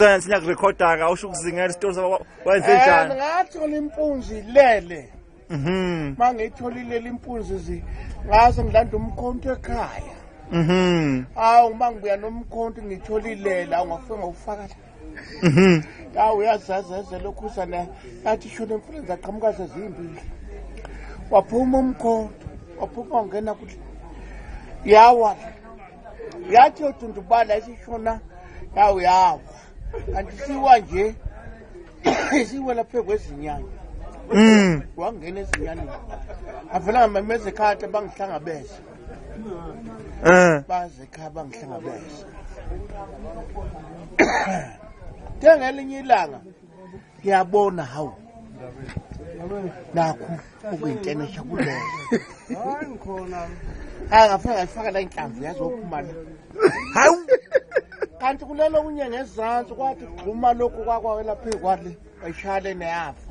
sense ngiyakurekhoda ka usho ukuzingela isitori sabo wenze njani ngathola impunzi ilele mhm mangitholile impunzi zi ngase ngilanda umkhonto ekhaya mhm awu uma ngibuya nomkhonto ngitholile la ungafika ngokufaka la mhm awu uyazazaze lokhu sana yathi shona impunzi aqhamuka sezimbili waphuma umkhonto waphuma ungena kuthi yawa yathi yodundubala isishona yawo yawa kanti siwa nje isiwela phezu kwezinyanya mm. wangena ezinyaneni avela ngamameza ekhati bangihlangabeza um eh. baze ekhaya bangihlangabeza njengelinye ilanga ngiyabona hawu nakhu okuyintenesha kuleyo hayi ngikhona hayi ngafuna ngayifaka la inhlamvu yazophuma la hawu kanti kulelo kunye ngezansi kwathi gxuma lokhu kwakwawela phezu kwale ayishayale neyafa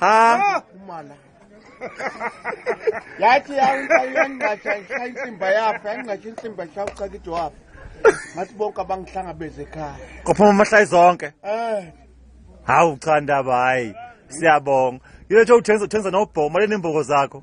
ha umala yathi yangqasha ishaya insimba yapha yangqasha insimba ishaya ucakido wapha ngathi bonke abangihlangabeze ekhaya kophuma amahlayi zonke eh hawu cha ndaba hayi siyabonga yile nje uthengisa uthengisa nobhoma lenembogo zakho